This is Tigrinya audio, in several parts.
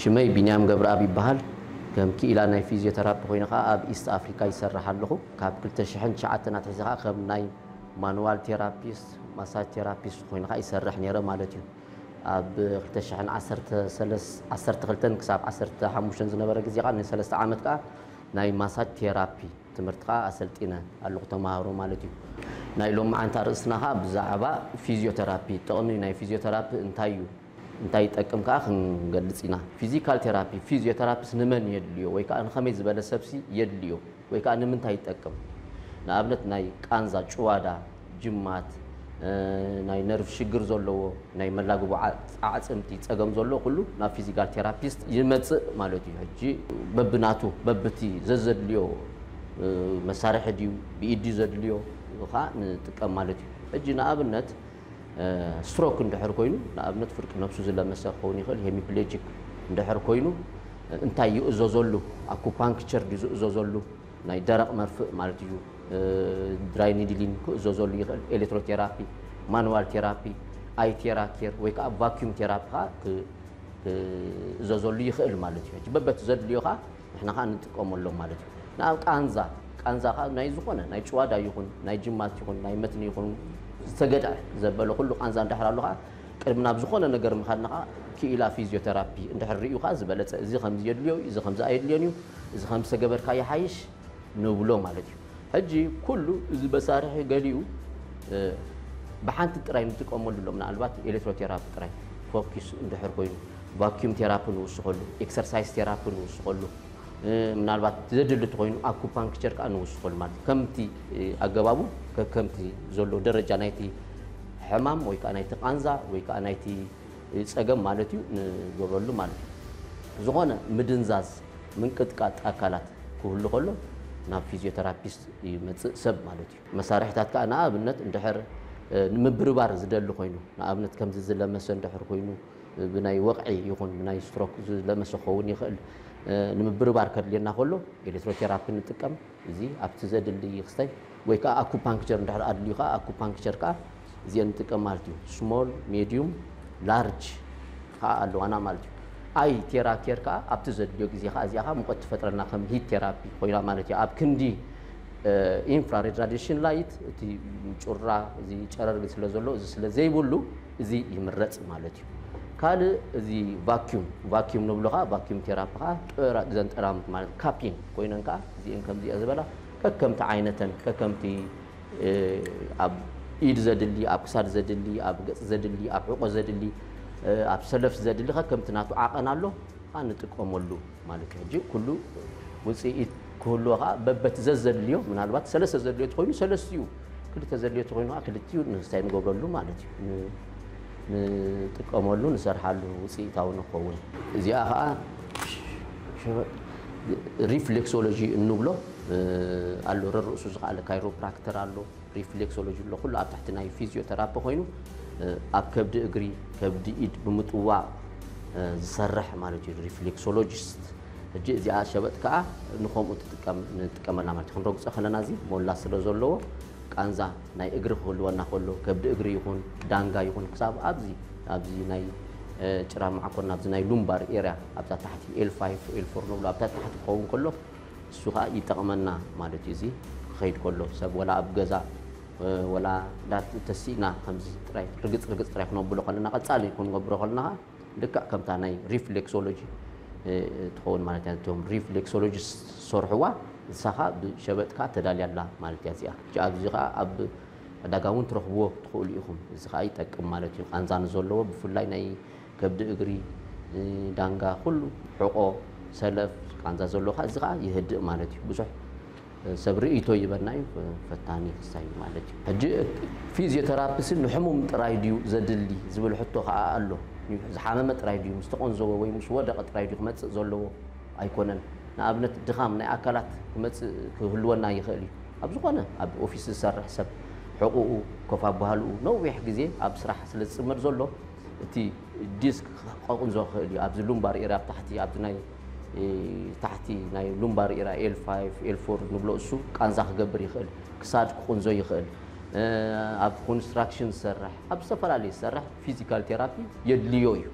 ሽመይ ቢንያም ገብረኣብ ይበሃል። ከም ክኢላ ናይ ፊዝዮተራፒ ኮይነ ከኣ ኣብ ኢስት ኣፍሪካ ይሰርሕ ኣለኹ። ካብ ክልተ ሽሕን ትሽዓተን ኣትሒዘ ከኣ ከም ናይ ማኑዋል ቴራፒስት፣ ማሳጅ ቴራፒስት ኮይነ ከኣ ይሰርሕ ነይረ ማለት እዩ። ኣብ ክልተ ሽሕን ዓሰርተ ሰለስ ዓሰርተ ክልተን ክሳብ ዓሰርተ ሓሙሽተን ዝነበረ ግዜ ከኣ ንሰለስተ ዓመት ከኣ ናይ ማሳጅ ቴራፒ ትምህርቲ ከኣ ኣሰልጢነ ኣለኹ ተማሃሮ ማለት እዩ። ናይ ሎምዓንቲ ኣርእስትና ከኣ ብዛዕባ ፊዝዮተራፒ ጥቕሚ ናይ ፊዝዮተራፒ እንታይ እዩ እንታይ ይጠቅም ከኣ ክንገልጽ ኢና። ፊዚካል ቴራፒ ፊዝዮተራፒስ ንመን የድልዮ ወይ ከኣ ንኸመይ ዝበለ ሰብሲ የድልዮ ወይ ከኣ ንምንታይ ይጠቅም ንኣብነት ናይ ቃንዛ ጭዋዳ ጅማት፣ ናይ ነርቭ ሽግር ዘለዎ፣ ናይ መላግቦ ኣዕጽምቲ ጸገም ዘለዎ ኩሉ ናብ ፊዚካል ቴራፒስት ይመጽእ ማለት እዩ። ሕጂ በብናቱ በብቲ ዘዘድልዮ መሳርሒ ድዩ ብኢድ ድዩ ዘድልዮ ከኣ ንጥቀም ማለት እዩ። ሕጂ ንኣብነት ስትሮክ እንድሕር ኮይኑ ንኣብነት ፍርቂ ነብሱ ዝለመሰ ክኸውን ይኽእል፣ ሄሚፕሌጂክ እንድሕር ኮይኑ እንታይ ይእዘዘሉ? ኣኩፓንክቸር ድዩ ዝእዘዘሉ? ናይ ደረቕ መርፍእ ማለት እዩ። ድራይ ኒድሊንግ ክእዘዘሉ ይኽእል፣ ኤሌክትሮቴራፒ፣ ማኑዋል ቴራፒ፣ ኣይ ቴራ ኬር ወይ ከዓ ቫኪዩም ቴራፒ ከዓ ክእዘዘሉ ይኽእል ማለት እዩ። በበቲ ዘድልዮ ከዓ ንሕና ከዓ ንጥቀመሎም ማለት እዩ። ንኣብ ቃንዛ ቃንዛ ከዓ ናይ ዝኾነ ናይ ጭዋዳ ይኹን ናይ ጅማት ይኹን ናይ መትኒ ይኹን ዝተገድዐ ዘበለ ኩሉ ቃንዛ እንድሕር ኣሎ ከዓ ቅድሚ ናብ ዝኾነ ነገር ምኻድና ከዓ ክኢላ ፊዚዮቴራፒ እንድሕር ሪኡ ከዓ ዝበለፀ እዚ ከምዚ የድልዮ እዩ፣ እዚ ከምዚ ኣየድልዮን እዩ፣ እዚ ከምዚ ተገበርካ ይሓይሽ ንብሎ ማለት እዩ። ሕጂ ኩሉ እዚ መሳርሒ ገሊኡ ብሓንቲ ጥራይ ንጥቀመሉ ኣሎ፣ ምናልባት ኤሌክትሮ ቴራፒ ጥራይ ፎኪስ እንድሕር ኮይኑ፣ ቫክዩም ቴራፒ ንውስኸሉ፣ ኤክሰርሳይስ ቴራፒ ንውስኸሉ፣ ምናልባት ዘድሊ እንተኾይኑ ኣኩፓንክቸር ከኣ ንውስኸሉ ማለት እዩ። ከምቲ ኣገባቡ ከከምቲ ዘሎ ደረጃ ናይቲ ሕማም ወይ ከኣ ናይቲ ቃንዛ ወይ ከኣ ናይቲ ጸገም ማለት እዩ ንገብረሉ ማለት እዩ። ዝኾነ ምድንዛዝ ምንቅጥቃጥ ኣካላት ክህሉ ከሎ ናብ ፊዝዮተራፒስት ይመጽእ ሰብ ማለት እዩ። መሳርሒታት ከኣ ንኣብነት እንድሕር ንምብርባር ዝደሊ ኮይኑ ንኣብነት ከምዚ ዝለመሰ እንድሕር ኮይኑ ብናይ ወቕዒ ይኹን ብናይ ስትሮክ ዝለመሰ ክኸውን ይኽእል ንምብርባር ከድልየና ከሎ ኤሌክትሮቴራፒ ንጥቀም። እዚ ኣብቲ ዘድሊ ክስተይ ወይ ከኣ ኣኩፓንክቸር እንድሕር ኣድልዩ ከኣ ኣኩፓንክቸር ከኣ እዚኤን ንጥቀም ማለት እዩ። ስሞል፣ ሜድዩም፣ ላርጅ ከኣ ኣለዋና ማለት እዩ። ኣይ ቴራ ኬር ከኣ ኣብቲ ዘድልዮ ግዜ ከኣ እዚኣ ከኣ ሙቐት ትፈጥረልና ከም ሂት ቴራፒ ኮይና ማለት እዩ። ኣብ ክንዲ ኢንፍራሬድ ራዲሽን ላይት እቲ ጩራ እዚ ጨረር ስለ ዘሎ እዚ ስለ ዘይብሉ እዚ ይምረጽ ማለት እዩ። ካልእ እዚ ቫክዩም ቫክዩም ንብሎ ከኣ ቫክዩም ቴራፒ ከኣ ጥራ እዘን ጠራሙት ማለት ካፒን ኮይነን ከኣ እዚኤን ከምዚኣ ዝበላ ከከምቲ ዓይነተን ከከምቲ ኣብ ኢድ ዘድሊ ኣብ ክሳድ ዘድሊ ኣብ ገጽ ዘድሊ ኣብ ሕቆ ዘድሊ ኣብ ሰለፍ ዘድሊ ከከምቲ ናቱ ዓቐን ኣሎ ከኣ ንጥቀመሉ ማለት እዩ ሕጂ ኩሉ ውጽኢት ክህልዎ ከኣ በበቲ ዘዘድልዮ ምናልባት ሰለስተ ዘድልዮ ተኮይኑ ሰለስቲኡ ክልተ ዘድልዮ ተኮይኑ ከኣ ክልቲኡ ንስታይ ንገብረሉ ማለት እዩ ንጥቀመሉ ንሰርሓሉ ውጽኢታዊ ንክኸውን እዚኣ ከኣ ሪፍሌክሶሎጂ እንብሎ ኣሎ ረርእሱ ዝኸኣለ ካይሮፕራክተር ኣሎ ሪፍሌክሶሎጂ ኣሎ ኩሉ ኣብ ትሕቲ ናይ ፊዚዮተራፒ ኮይኑ ኣብ ከብዲ እግሪ ከብዲ ኢድ ብምጥዋቕ ዝሰርሕ ማለት እዩ ሪፍሌክሶሎጂስት ሕጂ እዚኣ ሸበጥ ከዓ ንከምኡ ትጥቀም ንጥቀመላ ማለት ክንረግፆ ከለና እዚ ሞላ ስለ ዘለዎ ቃንዛ ናይ እግሪ ክህልወና ከሎ ከብዲ እግሪ ይኹን ዳንጋ ይኹን ክሳብ ኣብዚ ኣብዚ ናይ ጭራ መዓኮር ናብዚ ናይ ሉምባር ኤርያ ኣብዛ ታሕቲ ኤል ፋይፍ ኤል ፎር ንብሎ ኣብታ ታሕቲ ክኸውን ከሎ እሱ ከዓ ይጠቕመና ማለት እዩ እዚ ክኸይድ ከሎ ሰብ ወላ ኣብ ገዛ ወላ ዳት ተሲእና ከምዚ ጥራይ ርግፅ ርግፅ ጥራይ ክነብሎ ከለና ቀፃሊ ክንገብሮ ከለና ልክዕ ከምታ ናይ ሪፍሌክሶሎጂ ትኸውን ማለት እያ እቶም ሪፍሌክሶሎጂ ዝሰርሕዋ ንሳኻ ብሸበጥካ ተዳልያ ኣላ ማለት እያ እዚኣ እጂ ኣብዚ ከዓ ኣብ ዕዳጋ እውን ትረኽብዎ ትኽእሉ ኢኹም እዚ ከዓ ይጠቅም ማለት እዩ ቃንዛ ንዘለዎ ብፍላይ ናይ ከብዲ እግሪ ዳንጋ ኩሉ ሕቆ ሰለፍ ቃንዛ ዘለዎ ከዓ እዚ ከዓ የህድእ ማለት እዩ ብዙሕ ሰብ ርእይቶ ይበና እዩ ፈታኒ ክሳይ እዩ ማለት እዩ። ሕጂ ፊዝዮተራፒሲ ንሕሙም ጥራይ ድዩ ዘድሊ ዝብል ሕቶ ከኣ ኣሎ። ዝሓመመ ጥራይ ድዩ ምስ ተቖንዘወ ወይ ምስ ወደቐ ጥራይ ድዩ ክመጽእ ዘለዎ? ኣይኮነን። ንኣብነት ድኻም ናይ ኣካላት ክመጽእ ክህልወና ይኽእል እዩ። ኣብ ዝኾነ ኣብ ኦፊስ ዝሰርሕ ሰብ ሕቑኡ ኮፍ ኣባህልኡ ነዊሕ ግዜ ኣብ ስራሕ ስለ ዝጽመድ ዘሎ እቲ ዲስክ ክቐቕንዞ ይኽእል እዩ። ኣብዚ ሉምባር ኤርያ ኣብ ታሕቲ ኣብዚ ናይ ታሕቲ ናይ ሉምባር ኢራ ኤል ፋይቭ ኤል ፎር ንብሎ እሱ ቃንዛ ክገብር ይኽእል፣ ክሳድ ክቁንዞ ይኽእል፣ ኣብ ኮንስትራክሽን ዝሰርሕ ኣብ ዝተፈላለዩ ዝሰርሕ ፊዚካል ቴራፒ የድልዮ እዩ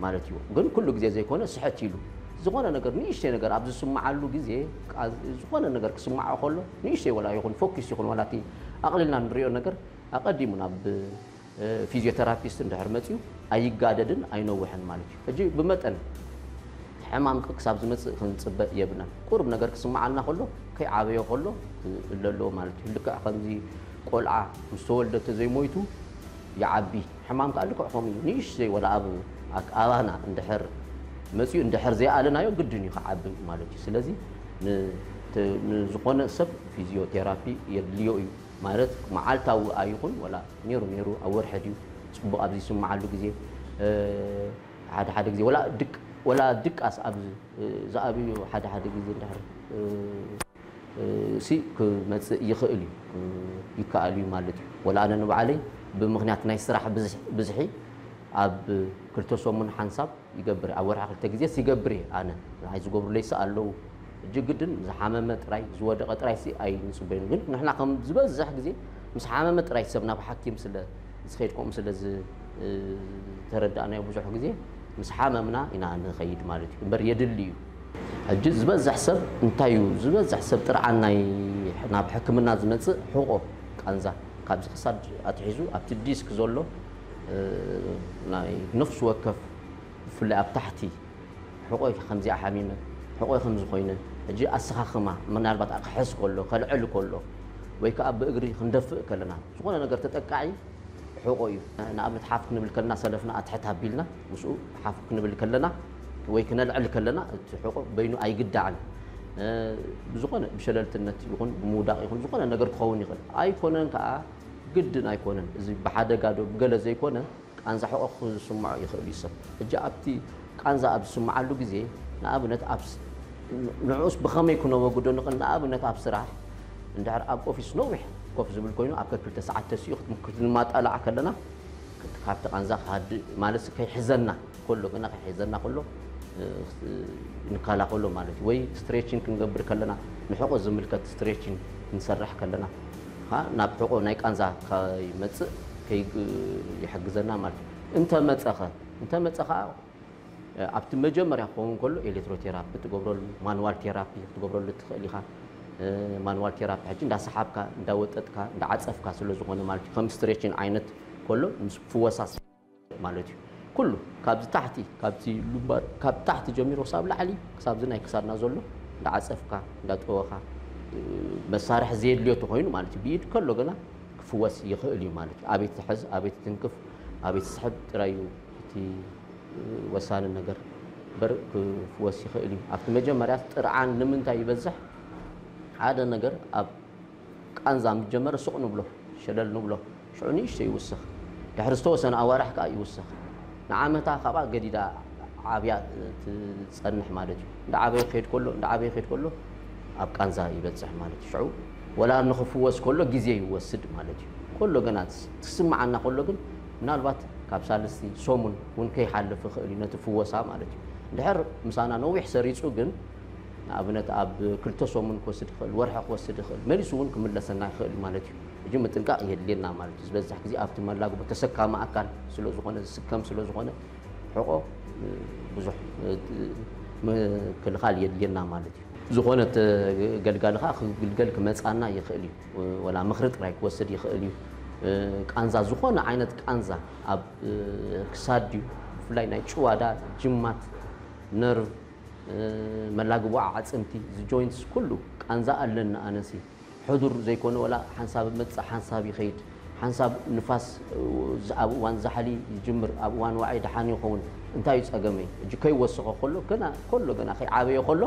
ማለት እዩ። ግን ኩሉ ግዜ ዘይኮነ ስሕት ኢሉ ዝኾነ ነገር ንእሽተይ ነገር ኣብ ዝስምዓሉ ግዜ ዝኾነ ነገር ክስምዖ ከሎ ንእሽተይ ወላ ይኹን ፎኪስ ይኹን ወላ እቲ ኣቕሊልና ንሪኦ ነገር ኣቐዲሙ ናብ ፊዝዮተራፒስት እንድሕር መጺኡ ኣይጋደድን ኣይነውሕን ማለት እዩ። ሕጂ ብመጠን ሕማም ክሳብ ዝመጽእ ክንጽበ የብልናን። ቁሩብ ነገር ክስምዓልና ከሎ ከይዓበየ ከሎ ክእለ ኣለዎ ማለት እዩ። ልክዕ ከምዚ ቆልዓ ምስ ተወልደ ተዘይሞይቱ ይዓቢ፣ ሕማም ከኣ ልክዕ ከምኡ እዩ። ንእሽተይ ወላ ኣብ ኣባና እንድሕር መጺኡ እንድሕር ዘይኣለናዮ ግድን እዩ ክዓቢ ማለት እዩ። ስለዚ ንዝኾነ ሰብ ፊዝዮቴራፒ የድልዮ እዩ። ማለት መዓልታዊ ኣይኹን ወላ ኔሩ ኔሩ ኣብ ወርሒ ድዩ ጽቡቕ ኣብ ዝይስምዓሉ ግዜ ሓደ ሓደ ግዜ ወላ ድቅ ወላ ድቃስ ኣብ ዝኣብዩ ሓደ ሓደ ግዜ እንድሕር ሲ ክመጽእ ይኽእል እዩ ይከኣል እዩ ማለት እዩ። ወላ ኣነ ንባዕለይ ብምኽንያት ናይ ስራሕ ብዝሒ ኣብ ክልተ ሰሙን ሓንሳብ ይገብር እየ ኣብ ወርሒ ክልተ ግዜስ ይገብር እየ ኣነ። ንዓይ ዝገብሩለይሲ ኣለዉ። ሕጂ ግድን ዝሓመመ ጥራይ ዝወደቐ ጥራይሲ ኣይንጽበዩን ግን ንሕና ከም ዝበዝሕ ግዜ ምስ ሓመመ ጥራይ ሰብ ናብ ሓኪም ስለ ዝኸይድ ከምኡ ስለ ዝተረዳእናዮ ብዙሕ ግዜ ምስ ሓመምና ኢና ንኸይድ ማለት እዩ እምበር የድሊ እዩ ሕጂ ዝበዝሕ ሰብ እንታይ እዩ ዝበዝሕ ሰብ ጥርዓን ናይ ናብ ሕክምና ዝመጽእ ሕቖ ቃንዛ ካብዚ ክሳድ ኣትሒዙ ኣብቲ ዲስክ ዘሎ ናይ ነፍሲ ወከፍ ብፍላይ ኣብ ታሕቲ ሕቆይ ከምዚኣ ሓሚመ ሕቆይ ከምዚ ኮይነ ሕጂ ኣሰኻኽማ ምናልባት ኣክሕስ ከሎ ከልዕል ከሎ ወይ ከዓ ብእግሪ ክንደፍእ ከለና ዝኾነ ነገር ተጠቃዒ ሕቆ እዩ ንኣብነት ሓፍ ክንብል ከለና ሰለፍና ኣትሕት ኣቢልና ምስኡ ሓፍ ክንብል ከለና ወይ ክነልዕል ከለና እቲ ሕቆ በይኑ ኣይግዳዕን ብዝኾነ ብሸለልትነት ይኹን ብምውዳቕ ይኹን ዝኾነ ነገር ክኸውን ይኽእል ኣይኮነን ከዓ ግድን ኣይኮነን እዚ ብሓደጋ ዶ ብገለ ዘይኮነ ቃንዛ ሕቖ ክኹን ዝስምዖ ይኽእል እዩ ሰብ። ሕጂ ኣብቲ ቃንዛ ኣብ ዝስምዓሉ ግዜ ንኣብነት ኣብ ንዕኡስ ብኸመይ ክነወግዶ ንኽእል ንኣብነት ኣብ ስራሕ እንድሕር ኣብ ኦፊስ ነዊሕ ኮፍ ዝብል ኮይኑ ኣብ ከክልተ ሰዓት ተሲኡ ክትንማጣላዕ ከለና ካብቲ ቃንዛ ክሃድእ ማለትሲ ከይሕዘና ከሎ ግና ክሕዘና ከሎ ንከላኸሎ ማለት እዩ ወይ ስትሬችን ክንገብር ከለና ንሕቆ ዝምልከት ስትሬችን ክንሰርሕ ከለና ናብ ሕቆ ናይ ቃንዛ ከይመፅእ ይሕግዘና ማለት እዩ እንተመፀኸ እንተመፀ ከዓ ኣብቲ መጀመርያ ክኸውን ከሎ ኤሌክትሮቴራፒ ትገብረሉ ማንዋል ቴራፒ ክትገብረሉ ትኽእል ኢኻ ማንዋል ቴራፒ ሕጂ እንዳሰሓብካ እንዳወጠጥካ እንዳዓፀፍካ ስለዝኾነ ማለት እዩ ከም ስትሬችን ዓይነት ከሎ ምስ ፍወሳ ማለት እዩ ኩሉ ካብዚ ታሕቲ ካብቲ ሉምባር ካብ ታሕቲ ጀሚሮ ክሳብ ላዕሊ ክሳብዚ ናይ ክሳድና ዘሎ እንዳዓፀፍካ እንዳጠወኻ መሳርሒ ዘየድልዮ ተኾይኑ ማለት እዩ ብኢድ ከሎ ግና ክፍወስ ይኽእል እዩ ማለት እዩ ኣቤት ዝሕዝ ኣቤት ትንክፍ ኣቤት ዝስሕብ ጥራይ እዩ እቲ ወሳኒ ነገር በር ክፍወስ ይኽእል እዩ ኣብቲ መጀመርያ ጥርዓን ንምንታይ ይበዝሕ ሓደ ነገር ኣብ ቃንዛ ምስ ጀመረ ሱቕ ንብሎ፣ ሸለል ንብሎ፣ ሽዑ ንእሽተይ ይውስኽ፣ ድሕሪ ዝተወሰነ ኣዋርሕ ከኣ ይውስኽ፣ ንዓመታ ካብኣ ገዲዳ ዓብያ ትጸንሕ ማለት እዩ። እንዳዓበየ ክኸይድ ከሎ እንዳዓበየ ክኸይድ ከሎ ኣብ ቃንዛ ይበጽሕ ማለት እዩ። ሽዑ ወላ ንኽፍወስ ከሎ ግዜ ይወስድ ማለት እዩ። ከሎ ገና ክስምዓና ከሎ ግን ምናልባት ካብ ሳልስቲ ሰሙን እውን ከይሓልፍ ይኽእል እዩ ነቲ ፍወሳ ማለት እዩ። እንድሕር ምሳና ነዊሕ ሰሪጹ ግን፣ ንኣብነት ኣብ ክልተ ሰሙን ክወስድ ይኽእል፣ ወርሒ ክወስድ ይኽእል፣ መሊሱ እውን ክምለሰና ይኽእል እዩ ማለት እዩ። እጂ ምጥንቃቕ የድልየና ማለት እዩ። ዝበዛሕ ግዜ ኣብቲ መላግቦ ተሰካሚ ኣካል ስለ ዝኾነ ዝስከም ስለ ዝኾነ ሕቖ ብዙሕ ምክልኻል የድልየና ማለት እዩ። ዝኾነ ተገልጋሊ ከኣ ክግልገል ክመጽኣና ይኽእል እዩ። ወላ ምኽሪ ጥራይ ክወስድ ይኽእል እዩ። ቃንዛ ዝኾነ ዓይነት ቃንዛ ኣብ ክሳድ ድዩ ብፍላይ ናይ ጭዋዳ ጅማት ነርቭ መላግቦኣ ዓጽምቲ እዚ ጆይንትስ ኩሉ ቃንዛ ኣለኒ ኣነሲ ሕዱር ዘይኮነ ወላ ሓንሳብ እመጽእ ሓንሳብ ይኸይድ ሓንሳብ ንፋስ ኣብ እዋን ዛሕሊ ይጅምር ኣብ እዋን ዋዒ ደሓን ይኸውን እንታይ እዩ ጸገመይ እጂ ከይወሰኾ ከሎ ገና ከሎ ገና ከይዓበየ ከሎ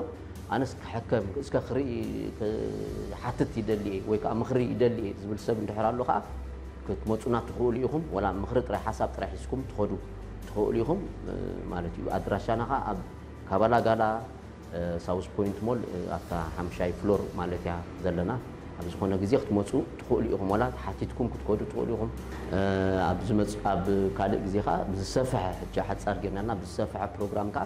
ኣነስ ክሕከም እስከ ክርኢ ክሓትት ይደሊ እየ ወይ ከዓ ምኽሪ ይደሊ እየ ዝብል ሰብ እንድሕር ኣሎ ከዓ ክትመፁና ትኽእሉ ኢኹም ወላ ምኽሪ ጥራይ ሓሳብ ጥራይ ሒዝኩም ትኸዱ ትኸእሉ ኢኹም ማለት እዩ። ኣድራሻና ኸኣ ኣብ ካባላ ጋላ ሳውዝ ፖይንት ሞል ኣብታ ሓምሻይ ፍሎር ማለት እያ ዘለና። ኣብ ዝኾነ ግዜ ክትመጹ ትኸእሉ ኢኹም። ዋላ ሓቲትኩም ክትከዱ ትኸእሉ ኢኹም። ኣብ ዝመጽእ ኣብ ካልእ ግዜ ኸኣ ብዝሰፈሐ ሕጂ ሓጻር ጌርናልና ብዝሰፈሐ ፕሮግራም ከኣ